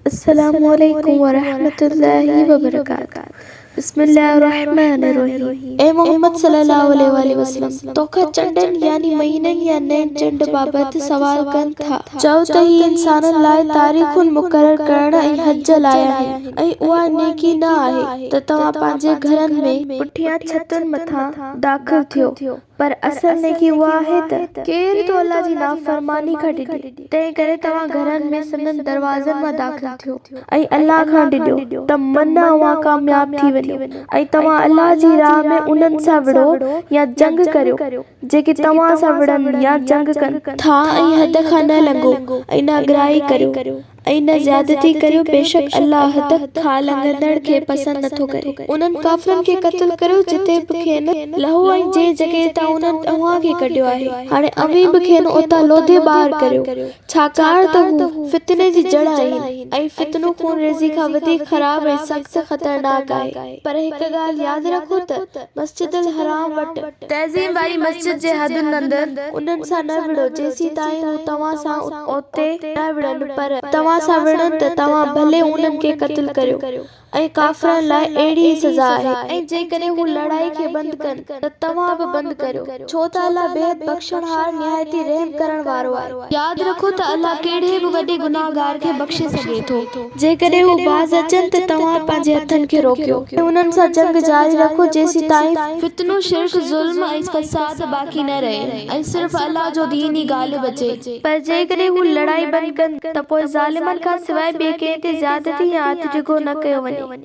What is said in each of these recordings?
السلام عليڪم ورحمة الله وبرڪاته بسم الله الرحمن الرحيم اي محمد صلي الله عليه واٰله وسلم توکان چنڊن يعني مهينن يا نئين چنڊ بابت سوال ڪن ٿا چئو ته هي انسانن لاء تاريخون مقرر ڪرڻ ۽ حج لاء آهن ۽ اها نيڪي نه آهي ته توهان پنهنجي گهرن ۾ پٺيان ڇتن مٿان داخل ٿيو پر اصل نيڪي اها آهي ته ڪير ٿو الله جي نافرماني کان ڊڄي، تنهن ڪري توهان گهرن ۾ سندن دروازن مان داخل ٿيو ۽ الله کان ڊڄو ته منه اوهان ڪامياب ٿي وڃو ۽ توهان الله جي راهه ۾ انهن سان وڙهو يا جنگ ڪريو جيڪي توهان سان وڙهن يا جنگ ڪن ٿا ۽ حد کان نه لنگهو ۽ ناگرائي ڪريو ۽ نه زيادتي ڪريو، بيشڪ الله ته کان لنگهندڙ کي پسند نه ٿو ڪري. انهن ڪافرن کي قتل ڪريو جتي به کين لهو ۽ جنهن جڳهه تان انهن اوهان کي ڪڍيو آهي. هاڻي اوهين به کين اتان لوڌي ٻاهر ڪريو، ڇاڪاڻ ته هو فتني جي جڙ آهن، ۽ فتنو خون ريزي کان وڌيڪ خراب ۽ سخت خطرناڪ آهي. پر هڪ ڳالهه ياد رکو ته مسجد الحرام وٽ تعظيم واري مسجد جي حدن اندر. انهن سان نه وڙهو، جيسيتائين هو توهان سان اوتي نه وڙهن، پر توهان سان وڙهن ته توهان ڀلي انهن کي قتل ڪريو، ۽ ڪافرن لاء اهڙي ئي سزا آهي. ۽ جيڪڏهن هو لڙائي کي بند ڪن ته توهان به بند ڪريو، ڇو ته الله بيحد بخشڻهار نهايت ئي رحم ڪرڻ وارو آهي. ياد رکو ته الله ڪهڙي به وڏي گنهگار کي بخشي سگهي ٿو. جيڪڏهن هو باز اچن ته توهان پنهنجي هٿن کي روڪيو ۽ انهن سان جنگ جاري رکو جيسيتائين. فتنو، شرڪ، ظلم ۽ فساد باقي نه رهي ۽ صرف الله جو دين ئي غالب اچي. پر جيڪڏهن هو لڙائي بند ڪن ته پوء ظالمن کان سواء ٻئي ڪنهن تي زيادتي يا هٿ ڊگهو نه ڪيو وڃي.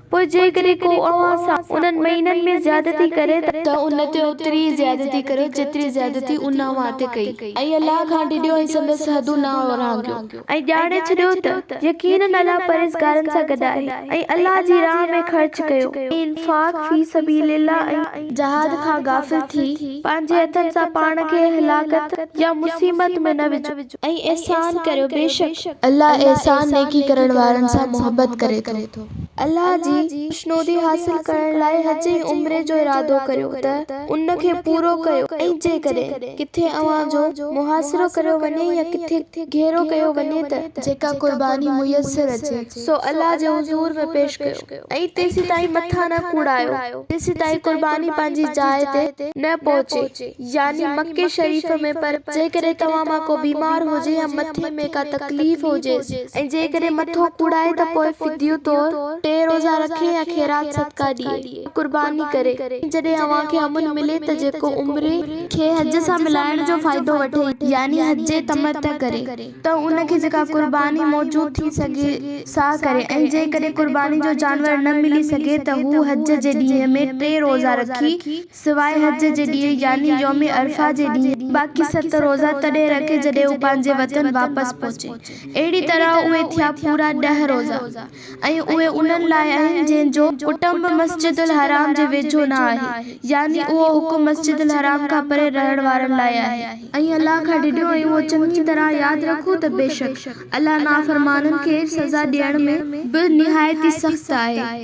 پوء جيڪڏهن ڪو اوهان سان انهن مهينن ۾ زيادتي ڪري ته. ته ان تي اوتري ئي زيادتي ڪريو جيتري زيادتي ان اوهان تي ڪئي. ۽ الله کان ڊڄو ۽ سندس حدون نه اورانگهيو. ۽ ڄاڻي ڇڏيو ته يقيناً الله پرهيزگارن سان گڏ آهي. ۽ الله جي راهه ۾ خرچ ڪيو، انفاق، في سبيل الله ۽. جهاد کان غافل ٿي، پنهنجي هٿن سان پاڻ کي هلاڪت يا مصيبت ۾ نه وجهو. ۽ احسان ڪريو، بيشڪ. الله احسان، نيڪي، ڪرڻ وارن سان محبت ڪري ٿو. الله جي خوشنودي حاصل ڪرڻ لاء حج ۽ عمري جو ارادو ڪريو ته ان کي پورو ڪيو ۽ جيڪڏهن ڪٿي اوهان جو محاصرو ڪريو وڃي يا ڪٿي گهيرو ڪيو وڃي ته جيڪا قرباني ميسر اچي سو الله جي حضور ۾ پيش ڪيو ۽ تيسيتائين مٿا نه ڪوڙايو جيسيتائين قرباني پنهنجي جاء تي نه پهچي يعني مڪي شريف ۾، پر جيڪڏهن توهان مان ڪو بيمار هجي يا مٿي ۾ ڪا تڪليف هجيس ۽ جيڪڏهن مٿو ڪوڙائي ته پوء فديو طور ٽي روزا رکي يا خيرات صدقه ڏئي يا قرباني ڪري ۽ جڏهن اوهان کي امن ملي ته جيڪو عمري کي حج سان ملائڻ جو فائدو وٺي يعني حج تمتع ڪري ته ان کي جيڪا قرباني موجود ٿي سگهي سا ڪري ۽ جيڪڏهن قرباني جو جانور نه ملي سگهي ته هو حج جي ڏينهن ۾ ٽي روزا رکي سواء حج جي ڏينهن يعني يوم عرفه جي ڏينهن، باقي ست روزا تڏهن رکي جڏهن هو پنهنجي وطن واپس پهچي. اهڙي طرح اهي ٿيا پورا ڏهه روزا ۽ اهي انهن لاء آهن جن جو ڪٽنب مسجد الحرام جي ويجهو نه آهي يعني اهو حڪم مسجد الحرام کان پري رهڻ وارن لاء آهي. ۽ الله کان ڊڄو ۽ اهو چڱي طرح ياد رکو ته بيشڪ الله نافرمانن کي سزا ڏيڻ ۾ به نهايت ئي سخت آهي.